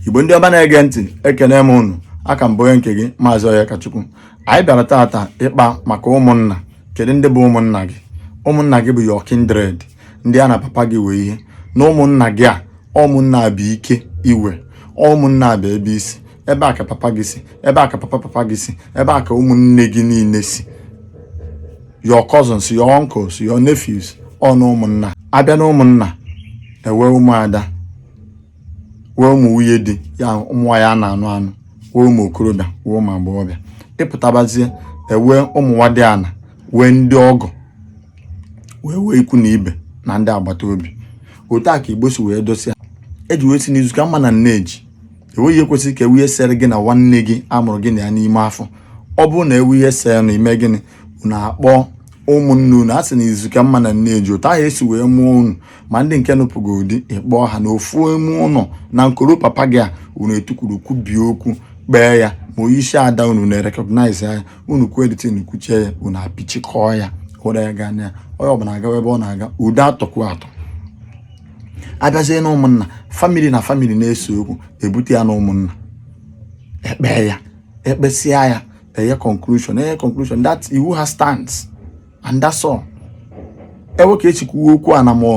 igbo ndị ọma na-ege ntị ekene m unu a ka m bụ onye nke gị maazị Onyekachukwu anyị bịara taata ịkpa maka ụmụnna kedu ndị bụ ụmụnna gị ụmụnna gị bụ your kindred ndị a na papa gị wee ihe na ụmụnna gị a ụmụnna bụ ike i we ụmụnna bụ ebe i si ebe a ka papa gị si ebe a ka papa papa gị si ebe a ka ụmụnne gị niile si your cousins your uncles your nephews ọnụ ụmụnna a bịa na ụmụnna e wee ụmụada wee ụmụ nwunye di ya ụmụ nwaanyị a na-anụ anụ wee ụmụ okorobịa wee ụmụ agbọghọbịa ị pụtabazie e wee ụmụ nwadịana wee ndị ọgọ wee wee ikwu na ibe na ndị agbata obi otu a ka igbo si wee dosịa e ji wee sị na izu ka mma na nne ji enweghị ihe kwesịrị ka e wee ihe sere gị na nwanne gị a mụrụ gị na ya n'ime afọ ọ bụrụ na e wee ihe sere unu eme gịnị unu akpọọ ụmụnne unu a sị na izu ka mma na nne ji otu ahụ e si wee mụọ unu ma ndị nke nụpụgo di ị kpọọ ha na ofu ime ụnọ na nkoro papa gị a unu etukwuru kwubie okwu kpee ya ma onye isi ada unu na-recognize ya unu kwuo the thing kwuchie ya unu apịchikọọ ya hụrụ ya gaa na ya onye ọbụla agawa ebe ọ na-aga udo atọkwu atọ a bịazie na ụmụnna famili na famili na-ese okwu e bute ya na ụmụnna e kpee ya e kpesịa ya e nye conclusion e nye conclusion that iwu ha stands and that's all e wee ka e si kwuwe okwu a na ma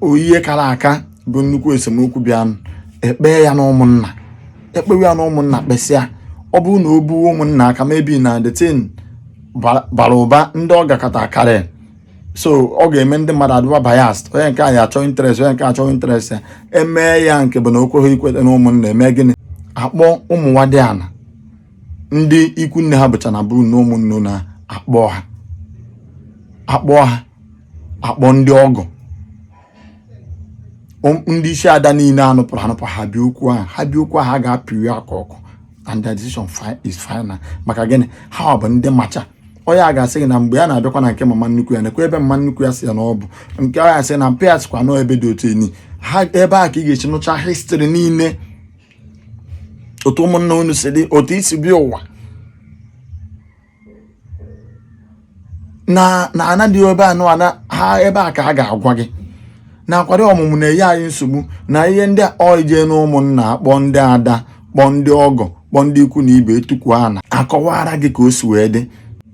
ọ ihe kara aka bụ nnukwu esemokwu bịanụ e kpee ya na ụmụnna e kpewe ya na ụmụnna kpesịa ọ bụrụ na o buo ụmụnna aka maybe na the thing bara ụba ndị ọ gakọta karịa so ọ ga-eme ndị mmadụ adịba biased onye nke anyị achọ interest onye nke achọ interest ya e mee ya nke bụ na o kweghị ikweta na ụmụnna e mee gịnị a kpọọ ụmụ nwadịana ndị ikwu nne ha bụcha na bụrụ na ụmụnne na a kpọọ ha a kpọọ ha a kpọọ ndị ọgọ ndị isi ada niile a nụpụrụ anụpụ ha bịa okwu ahụ ha bịa okwu ahụ ha ga-apịrị aka ọkụ and their decision is final maka gịnị ha bụ ndị macha onye a ga-asị gị na mgbe ya na-abịakwa na nke mama nnukwu ya nekwa ebe mama nnukwu ya sị ya na ọ bụ nke ọ ya sị na mpa ya sịkwa n'ebe dị otu enyi ha ebe a ka ị ga-esi nụcha history niile otu ụmụnna unu si dị otu i si bịa ụwa na na ana dị ebe a bụ ana ha ebe a ka a ga-agwa gị na akwari ọmụmụ na-enye anyị nsogbu na ihe ndị a ọ ị jee na ụmụnna kpọọ ndị ada kpọọ ndị ọgọ kpọọ ndị ikwu na ibe e tukwuo ana a kọwaara gị ka o si wee dị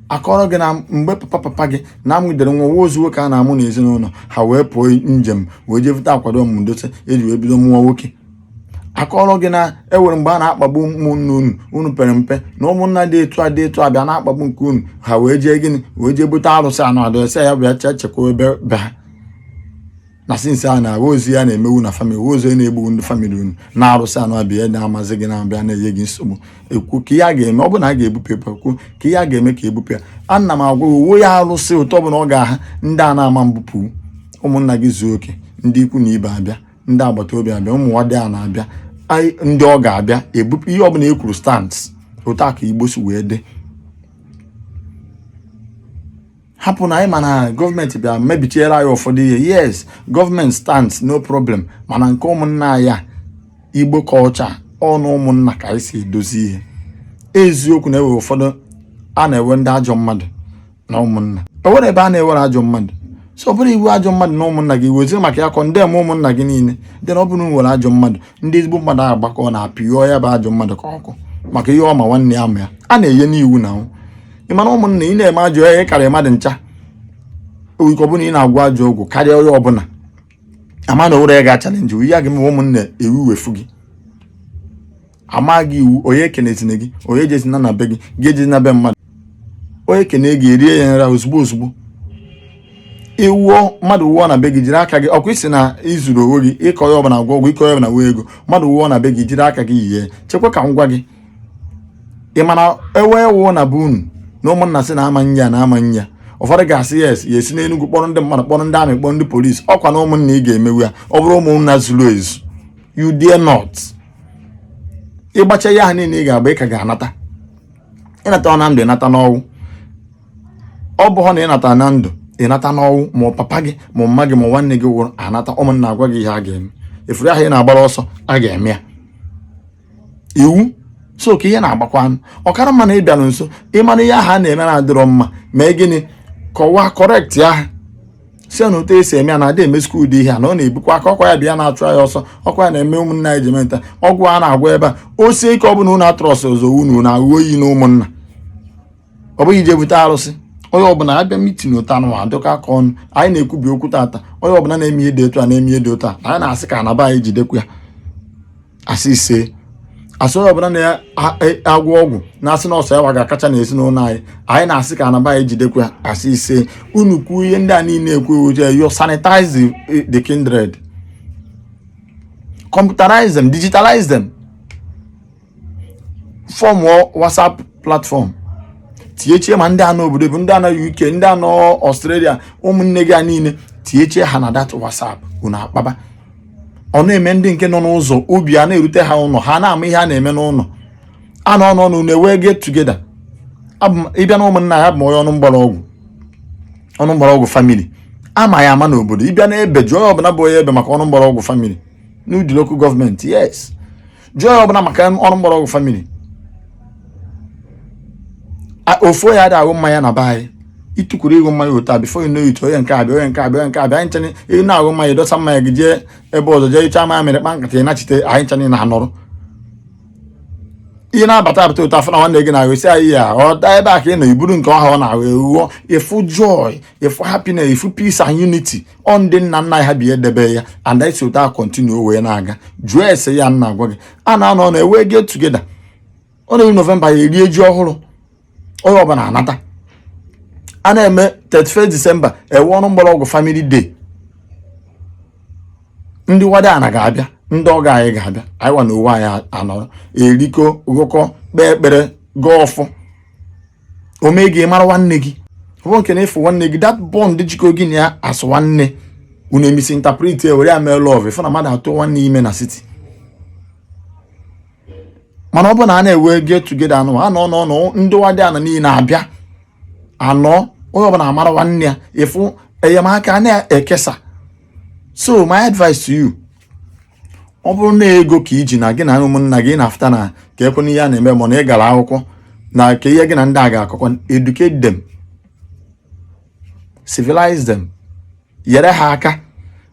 a kọọrọ gị na mgbe papa papa gị na amụdere nwa nwa ozu nwoke a na-amụ n'ezinụlọ ha wee pụọ njem wee jee vuta akwari ọmụmụ dote e ji wee bido mụwa nwoke akọrọ gị na ewere mgbe a na-akpagbu ụmụnne unu unu pere mpe na ụmụnna dị etu a dị etu a bịa na-akpagbu nke unu ha wee jee gịnị wee jee bute arụsị anụ adụ ese ya bịa chee chekwa ebe be ha na sinsi a na-ahụ ozi ya na-emewu na famili ozi ya na-egbu ndị famili unu na arụsị anụ abịa na-amazi gị na-abịa na-enye gị nsogbu ekwu ka ihe a ga-eme ọ bụ na a ga-ebupụ epe ekwu ka ihe a ga-eme ka ebupụ ya ana m agwa uwe ya arụsị ụtọ bụ na ọ ga-aha ndị a na-ama mbupụ ụmụnna gị zuo oke ndị ikwu na ibe abịa ndị agbata obi abịa ụmụ nwadịana abịa ndị ọgọ abịa ebupụ ihe ọbụla e kwuru stands otu a ka igbo si wee dị hapụ na anyị ma na gọọmenti bịa mebichiere anyị ụfọdụ ihe yes gọọmenti stands no problem mana nke ụmụnna ya igbo culture ọ n'ụmụnna ka anyị si edozi ihe eziokwu na ebe ụfọdụ a na-ewe ndị ajọ mmadụ na ụmụnna o nwerọ ebe a na-ewerọ ajọ mmadụ so ọ bụrụ i we ajọ mmadụ na ụmụnna gị weziri maka ya kọndem ụmụnna gị niile dị na ọ bụrụ nwere ajọ mmadụ ndị ezigbo mmadụ ahụ gbakọ na apịọ ya bụ ajọ mmadụ ka ọkụ maka ihe ọma nwanne ya ma ya a na-enye n'iwu na ahụ ị ma na ụmụnna ị na-eme ajọ ihe karịa mmadụ ncha owike ọbụla ị na-agwọ ajọ ọgwụ karịa onye ọbụla a ma na o werọ onye ga-achalenji ya gị ma ụmụnna ewu wefu gị a maa gị iwu onye ekenezina gị onye ejezina na be gị gị ejezina be mmadụ onye kene gị e rie ya nra ozugbo ozugbo ị wụọ mmadụ wụọ na be gị jiri aka gị ọ kwa ị sị na i zuru onwe gị ị ka onye ọbụla gwọ ọgwụ ị ka onye ọbụla wee ego mmadụ wụọ na be gị jiri aka gị nie chekwa ka m gwa gị ị ma na onye wụọ na be unu na ụmụnna sị na a ma-eni ya na a ma-eni ya ụfọdụ ga-asị yes ya esi n'enugwu kpọrọ ndị mmadụ kpọrọ ndị amị kpọrọ ndị polisi ọkwa na ụmụnna ị ga-emewu ya ọ bụrụ ụmụnna zuru ezu you dare not ị gbacha ihe ahụ niile ị ga-agba ị ka ga-anata ịnata na ndụ ịnata n'ọnwụ ọ bụghọ na ị nata na ndụ ị nata n'ọnwụ ma papa gị ma mama gị ma nwanne gị wụrụ anata ụmụnna agwa gị ihe a ga-eme ị fụrụ ihe ahụ ị na-agbara ọsọ a ga-eme ya iwu so ka ị na-agbakwanụ ọ kara mma na ị bịaru nso ị ma na ihe ahụ a na-eme na adịrọ mma mee gịnị kọwaa kọrekt ahụ sị na otu e si eme ya na adị emesikwa ụdị ihe a na ọ na-ebukwa aka ọkwa ya bịa na-achụ ya ọsọ ọkwa ya na-eme ụmụnna anyị ji menta ọgwụ a na-agwọ ebe a o sie ike ọ bụla unu atrọs ọzọ unu na aghụghọ oyi na ụmụnna ọ bụghị ije bute arụsị onye ọbụla abịa mitin ụta na adụka aka ọnụ anyị na-ekwubi okwu tata onye ọbụla na-eme ihe dị otu a na-eme ihe dị otu a anyị na-asị ka ana be anyị jidekwa ya a sị isee a sị onye ọbụla na-agwọ ọgwụ na-asị na ọ sọ ya wa ga-akacha na ezinụlọ anyị anyị na-asị ka ana be anyị jidekwa ya a sị isee unu kwuo ihe ndị a niile ekwu you sanitize the kindred computerize them digitalize them form WhatsApp platform tinyechie ma ndị a nọ obodo oyibo ndị a nọ UK ndị a nọ Australia ụmụnne gị a niile tinyechie ha na that WhatsApp unu akpaba ọ na-eme ndị nke nọ n'ụzọ obi a na-erute ha ụlọ ha na-ama ihe a na-eme n'ụlọ a na-anọ ọnụ na-ewe get together ịbịa na ụmụnna ya bụ onye ọnụ mgbara ọgwụ family ama ya ama n'obodo ịbịa na ebe jụọ onye ọbụla bụ onye ebe maka ọnụ mgbara ọgwụ family n'udi local government yes jụọ onye ọbụla maka ọnụ mgbara ọgwụ family ofu onye adị aṅụ mmanya na be anyị ịtụkwuru ịṅụ mmanya otu a before you know it onye nke a abịa onye nke a abịa onye nke a abịa anyị nchanye ị na-aṅụ mmanya ịdọsa mmanya gị jee ebe ọzọ jee icha mmanya mere kpa nkata ị nachite anyị nchanye na anọrọ ihe na-abata abata ụtọ afọ na nwanne gị na-aṅụ isi anyị ya ọ daa ebe a ka ị nọ iburu nke ọha ọ na-ahụ ewuo ịfụ joy ịfụ happiness ịfụ peace and unity ọ ndị nna nna ha bidebe ya and anyị si otu a continue wee na-aga jụọ ese ihe m na-agwa gị a na-anọ na-ewe get together ọ na-eru november e rie ji ọhụrụ onye ọbụla anata a na-eme 31 december ewe ọnụ mgbara ọgwụ family day ndị nwadiana ga-abịa ndị ọgọ anyị ga-abịa anyị wa na onwe anyị anọrọ erikọọ ṅụkọọ kpee ekpere gọọ ọfọ o mee gị mara nwanne gị ọ bụ nke na ịfụ nwanne gị that bond jikọ gị na ya a sị nwanne unu e misinterpret e were ya mee love ịfụ na mmadụ atụọ nwanne ime na city mana ọ bụ na a na-ewe get together a na-anọ n'ọnụ ndị nwadiana niile abịa anọ onye ọbụla amara nwanne ya ịfụ enyemaka na-ekesa so my advice to you ọ bụrụ na ego ka i ji na gị na ụmụnna gị na-afụta na ka ekwe n'ihe a na-eme ma na ị gara akwụkwọ na kee ihe gị na ndị a ga-akọkọ educate them civilize them yere ha aka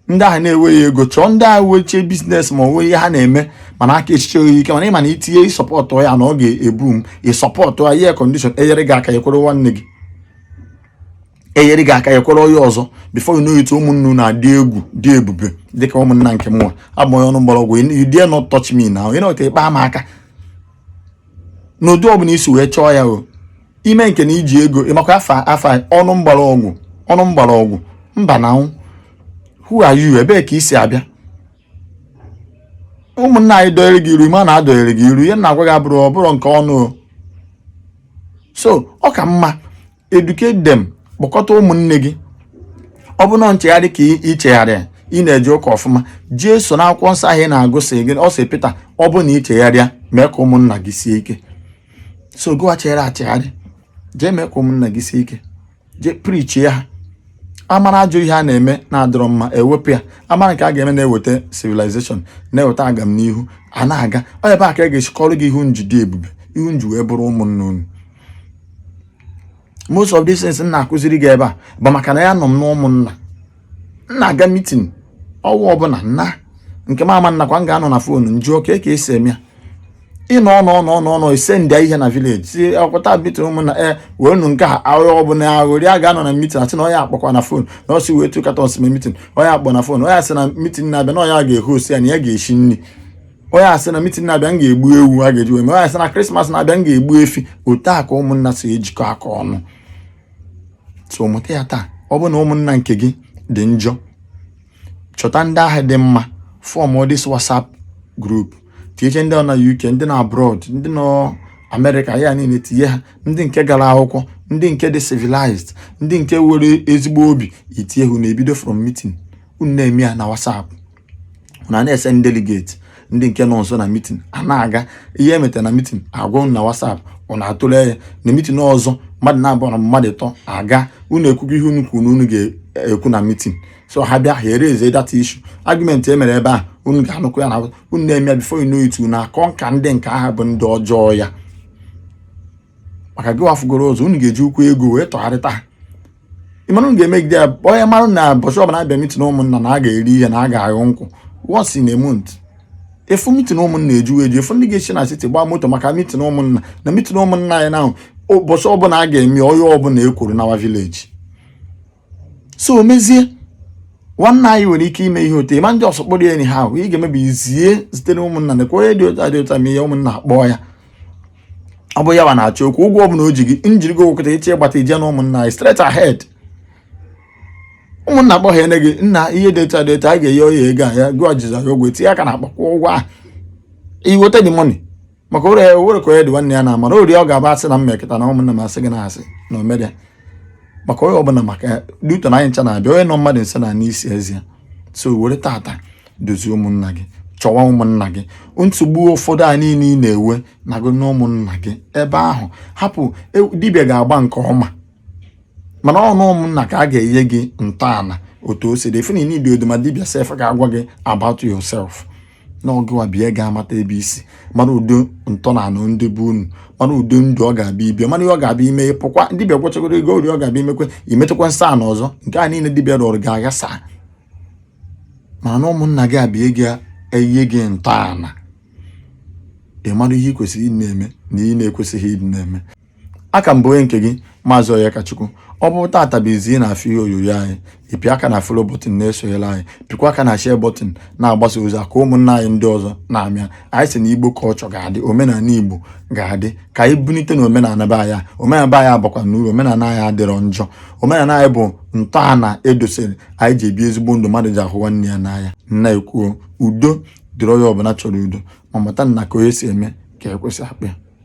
ndị ahụ na-enweghị ego chọọ ndị ahụ wechie business ma nwee ihe ha na-eme mana aka esicharọ ike mana ị ma na itinye ị support ya na ọ ga-ebu m ị support ya ihe condition enyere gị aka ekwere nwanne gị enyere gị aka ekwere onye ọzọ before you know it ụmụnna unu na-adị egwu dị ebube dịka ụmụnna nke mụnwa bụ onye ọnụ mgbara ọgwụ you dare not touch me now ị nọta ịkpa m aka n'ụdị ọbụla i si wee chọọ ya o ime nke na i ji ego ịmakwa afa afa ọnụ mgbara ọgwụ ọnụ mgbara ọgwụ mba na anwụ who are you ebee ka i si abịa ụmụnna anyị dọnyere gị iru ma na-adọnyere gị iru ihe na-agwa gị abụrụ ọ bụrụ nke ọnụ o so ọ ka mma educate them kpọkọta ụmụnne gị ọ bụ na nchegharị ka ị- ị chegharịa ị na-eje ụka ọfụma jeso na akwụkwọ nsọ ahụ ị na-agụ sị gị ọ sị pịta ọ bụ na ị chegharịa mee ka ụmụnna gị sie ike so gụwa chegharị achegharị jee mee ka ụmụnna gị sie ike jee preachie ha amara ajọ ihe a na-eme na-adịrọ mma ewepụ ya amara nke a ga-eme na-eweta civilization na-eweta agamnihu a na-aga ọ ebe a ka a ga-esi kọrọ gị ihe unu ji dị ebube ihe unu ji wee bụrụ ụmụnna unu most of these things m na-akụziri gị ebe a bụ maka na ya nọ m n'ụmụnna m na-aga mitin ọnwa ọbụla nna nke m ama nnakwa m ga-anọ na fonu m jụọ ka ka e si eme ya ịnọ ọnụ ọnụ ọnụ ọnụ i send ihe na vileji si akwụta mitin ụmụnna e wee nụ nke a ahụhụ ọbụla aghụrị a ga-anọ na mitin asị na onye akpọkwa na fon na ọ sị were two cartons mee mitin onye akpọ na fon onye asị na mitin na-abịa na onye a ga-ehost ya na ya ga-eshi nri onye asị na mitin na-abịa m ga-egbu ewu a ga-eji wee mee onye asị na krismas na-abịa m ga-egbu efi otu a ka ụmụnna si ejikọ aka ọnụ so mụta ya taa ọ bụ na ụmụnna nke gị dị njọ chọta ndị ahụ dị mma form this whatsapp group tinyecha ndị nọ na uk ndị nọ abroad ndị nọ amerịka ya niile tinye ha ndị nke gara akwụkwọ ndị nke dị civilized ndị nke were ezigbo obi i tinye ha na-ebido from meeting unu na-eme ya na whatsapp unu na-esend delegate ndị nke nọ nso na mitin a na-aga ihe e meta na mitin agwa unu na whatsapp unu atụle ya na mitin ọzọ mmadụ naabọ na mmadụ ịtọ aga unu ekwugo ihe unu kwuru na unu ga-ekwu na mitin so ha bịa ha eraise that issue argument e mere ebe a unu ga-anụkọ ya na unu na-eme ya before you know it unu aconquer ndị nke ahụ bụ ndị ọjọọ ya maka gị wa afụgoro ụzọ unu ga-eji ukwu ego wee tọgharịta ha ị mara unu ga-emegide ya onye mara na ụbọchị ọbụla a bịa mitin ụmụnna na a ga-eri ihe na a ga-aṅụ nkwụ once in a month ị fụ mitin ụmụnna eju eju ị fụ ndị ga-esi na city gbaa moto maka mitin ụmụnna na mitin ụmụnna anyị na ụbọchị ọbụla a ga-eme onye ọbụla ekuru nawa vileji so o mezie nwanne anyị nwere ike ime ihe otu ịma ndị ọsọ kpọrọ ya enyi ha ahụ ị ga-eme bụ izie zitere ụmụnna na onye dị otu a dị otu a ma ihe ụmụnna akpọọ ya ọ bụ ya wa na-achọ ịkwụ ụgwọ ọbụla o ji gị m jiri gị ụgwọ taa echi ị gbata ije na ụmụnna anyị straight ahead ụmụnna akpọọ gị ene gị nna ihe dị otu a dị otu a a ga-enye onye ego a ya gụọ jizọ ya ogwe tinye aka n'akpa kwụọ ụgwọ ahụ i weta the money maka ụlọ ya were ka onye dị nwanne ya na amara ori ọ ga-abụ asị na mma ekịta na ụmụnna m asị gị na asị na omere maka onye ọbụla maka due to na anyị ncha na-abịa onye nọ mmadụ nso na-anụ isi eze ya so were tata dozie ụmụnna gị chọwa ụmụnna gị nsogbu ụfọdụ a niile ị na-enwe na gị na ụmụnna gị ebe ahụ hapụ e, dibịa ga-agba nke ọma mana ọnụ ụmụnna ka a ga-enye gị ntọala otu o si dị ị fụ na ị na-edi oduma dibịa sef ga-agwa gị about yourself na ọ gịwa bịa ga-amata ebe i si mara ụdị ntọnala ndị be unu mara ụdị ndụ ọ ga-abịa ibi mara ihe ọ ga-abịa ime pụkwa dibịa gwachagoro ego ori ọ ga-abịa imekwe imetakwa nsọ ana ọzọ nke a niile dibịa rụrụ ga-aghasa mana na ụmụnna gị abịa ga-enye gị ntọala ị mara ihe ị kwesịrị ịdị na-eme na ihe ị na-ekwesịghị ịdị na-eme aka m bụ onye nke gị maazị Onyekachukwu ọ bụ tata bụ izi ị na-afụ ihe onyonyo anyị ịpị aka na follow button na-esonyere anyị pịkwa aka na share button na-agbasa ozi ka ụmụnna anyị ndị ọzọ na-amịa anyị sị na igbo culture ga-adị omenala igbo ga-adị ka anyị bunite na omenala be anyị omenala be anyị abakwa na uru omenala anyị adịrọ njọ omenala anyị bụ ntọala edosere anyị ji ebi ezigbo ndụ mmadụ ji ahụ nwanne ya n'anya na-ekwu udo dịrị onye ọbụla chọrọ udo ma mata na ka onye si eme ka ekwe si akpọ ya